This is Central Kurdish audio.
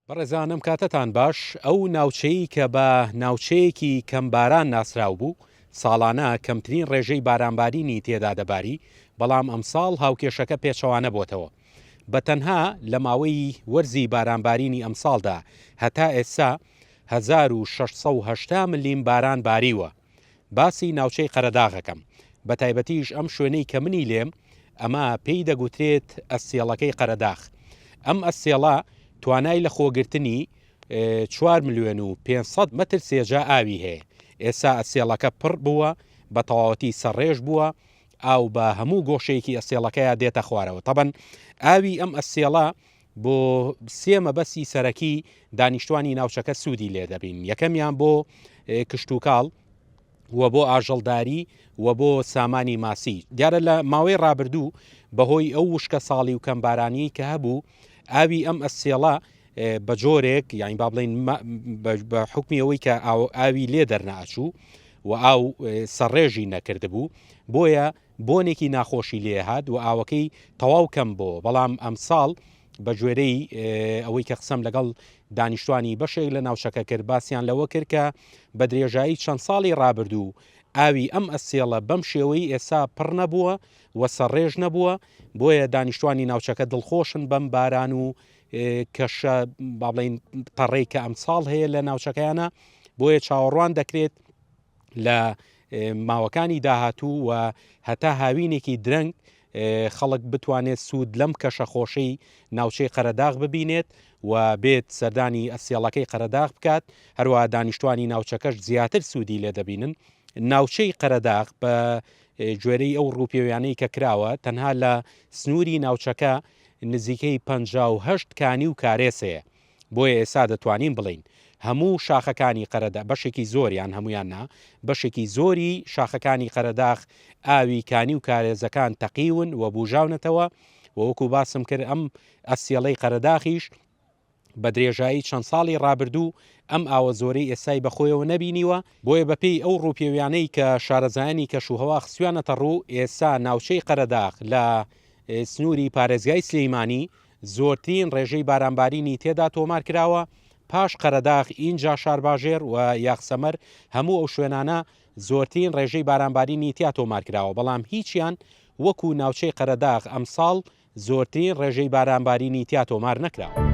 بەڕێزانم کاتتان باش، ئەو ناوچەی کە بە ناوچەیەکی کەم باران ناسراو بوو، ساڵانە کەمترین ڕێژەی بارانبارینی تێدا دەباری، بەڵام ئەمساڵ هاوکێشەکە پێچەوانە بۆتەوە، بە تەنها لە ماوەی وەرزی بارانبارینی ئەمساڵدا هەتا ئێستا هەزار و شەش سەد و هەشتا ملیم باران باریوە. باسی ناوچەی قەرەداغەکەم، بەتایبەتیش ئەم شوێنەی کە منی لێم، ئەمە پێی دەگوترێت ئەستێڵەکەی قەرەداخ. ئەم ئەستێڵە توانای لەخۆگرتنی چوار ملیۆن و پێنج سەد مەتر سێجا ئاوی هەیە، ئێستا ئەستێڵەکە پڕ بووە، بە تەواوەتی سەرڕێژ بووە، ئاو بە هەموو گۆشەیەکی ئەستێڵەکەیا دێتە خوارەوە، تەبەن ئاوی ئەم ئەستێڵە بۆ سێ مەبەستی سەرەکی دانیشتوانی ناوچەکە سوودی لێ دەبین یەکەمیان بۆ کشتوکاڵ و بۆ ئاژەڵداری و بۆ سامانی ماسی دیارە لە ماوەی ڕابردوو بەهۆی ئەو وشکە ساڵی و کەمبارانی کە هەبوو ئاوی ئەم ئەسێڵە بە جۆرێک یانی با بڵین بە حکمی ئەوەی کە ئاوی لێ دەرناچوو و ئاو سەڕێژی نەکردبوو بۆیە بۆنێکی ناخۆشی لێ هات و ئاوەکەی تەواو کەم بۆوە، بەڵام ئەمساڵ بەگوێرەی ئەوەی کە قسەم لەگەڵ دانیشتوانی بەشێک لە ناوچەکە کرد باسیان لەوە کرد کە بە درێژایی چەند ساڵی ڕابردوو ئاوی ئەم ئەسێڵە بەم شێوەی ئێسا پڕ نەبووە و سەڕێژ نەبووە بۆیە دانیشتوانی ناوچەکە دڵخۆشن بەم باران و کەشە بابلین تەڕێک کە ئەمساڵ هەیە لە ناوچەکەیانە بۆیە چاوەڕوان دەکرێت لە ماوەکانی داهاتوو و هەتا هاوینێکی درەنگ خەڵک بتوانێت سوود لەم کەشە خۆشەی ناوچەی قەرەداغ ببینێت و بێت سەردانی ئەفسێڵەکەی قەرەداغ بکات هەروە دانیشتوانی ناوچەکەش زیاتر سوودی لێ دەبینن ناوچەی قەرەداغ بە گوێرەی ئەو ڕووپێویانەی کە کراوە تەنها لە سنووری ناوچەکە نزیکەی 5 کانی و کارێسەیە بۆیە ئێستا دەتوانین بڵێین هەموو شاخەکانی قەرەدا، بەشێکی زۆریان، هەموویان نا، بەشێکی زۆری شاخەکانی قەرەداخ ئاوی کانی و کارێزەکان تەقیون و بووژاونەتەوە و وەکو باسم کرد ئەم ئەستێڵەی قەرەداخیش بە درێژایی چەند ساڵی ڕابردوو ئەم ئاوە زۆرەی ئێستای بەخۆیەوە نەبینیوە، بۆیە بەپێی ئەو ڕووپێویانەی کە شارەزایانی کەشوهەوا خستویانەتە ڕوو، ئێستا ناوچەی قەرەداخ لە سنووری پارێزگای سلێیمانی زۆرترین ڕێژەی بارانبارینی تێدا تۆمار کراوە، پاش قەرەداخ ئینجا شارباژێر و یاخسەمەر، هەموو ئەو شوێنانە زۆرترین ڕێژەی بارانبارینی تیا تۆمار کراوە، بەڵام هیچیان وەکو ناوچەی قەرەداغ ئەمساڵ زۆرترین ڕێژەی بارانبارینی تیا تۆمار نەکراوە.